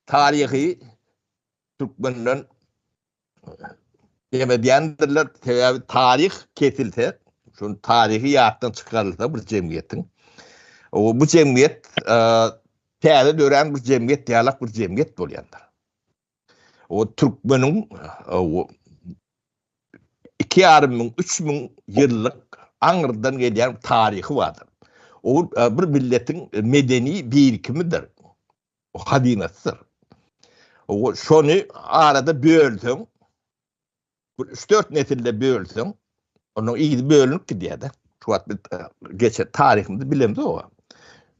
taryhy türkmenden demedýändirler, sebäbi taryh kesilse, şun taryhy ýatdan çykarylsa bir jemgyýetiň, bu jemgyýet täze dörän bir jemgyýet ýalak bir jemgyýet bolýandyr. O türkmeniň iki ýarym müň, üç müň ýyllyk aňyrdan gelýän taryhy bardyr. Ol bir milletiň medeni birikimidir, hazynasydyr. Şony arada bölseň, bir üç-dört nesilde bölseň, onuň yzy bölünip gidýär-de. Şu wagt biz geçen taryhymyzy bilemzok.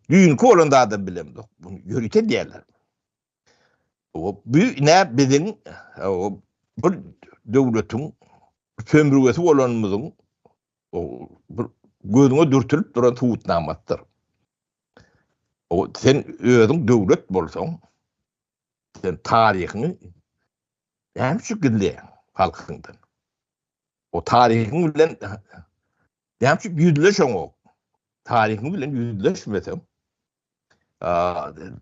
Düýnki bolan zadam bilemzok. Muny ýörite diýerler. Bu ne biziň bir döwletiň sömrügesi bolanymyzyň bir gözüňe dürtülip duran subutnamasydyr. O sen özüň döwlet bolsaň, sen taryhyňy näme üçin gizleýäň halkyňdan? O taryhyň bilen näme üçin ýüzleşeňok? Taryhyň bilen ýüzleşmeseň, Öňe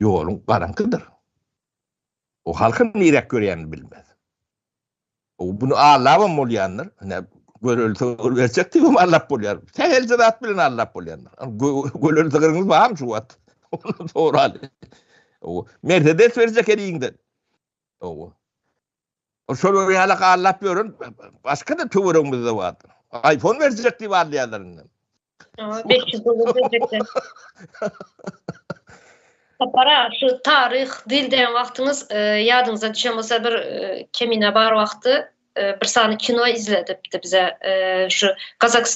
ýoluň garaňkydyr. O halky niräk görýänini bilmez. O bunu allabam bolýandyr. Ine gören sygyr berjek diýip hem allap bolýar. Sähelçe zat bilen allap bolýandyr. Gören sygyryňyz barmy şu wagt? Soraly. Mersedes berjek eliňden. Owa. Şolar ýaly gallap ýören başga-da töweregimizde bar. Aýfon berjek diýip alýarlar indi. Sapara, şu taryh, dil diýen wagtyňyz e, ýadyňyza düşen bolsa bir e, kemine bar wagty e, bir sany kino izledipdi bize şu Kazakistan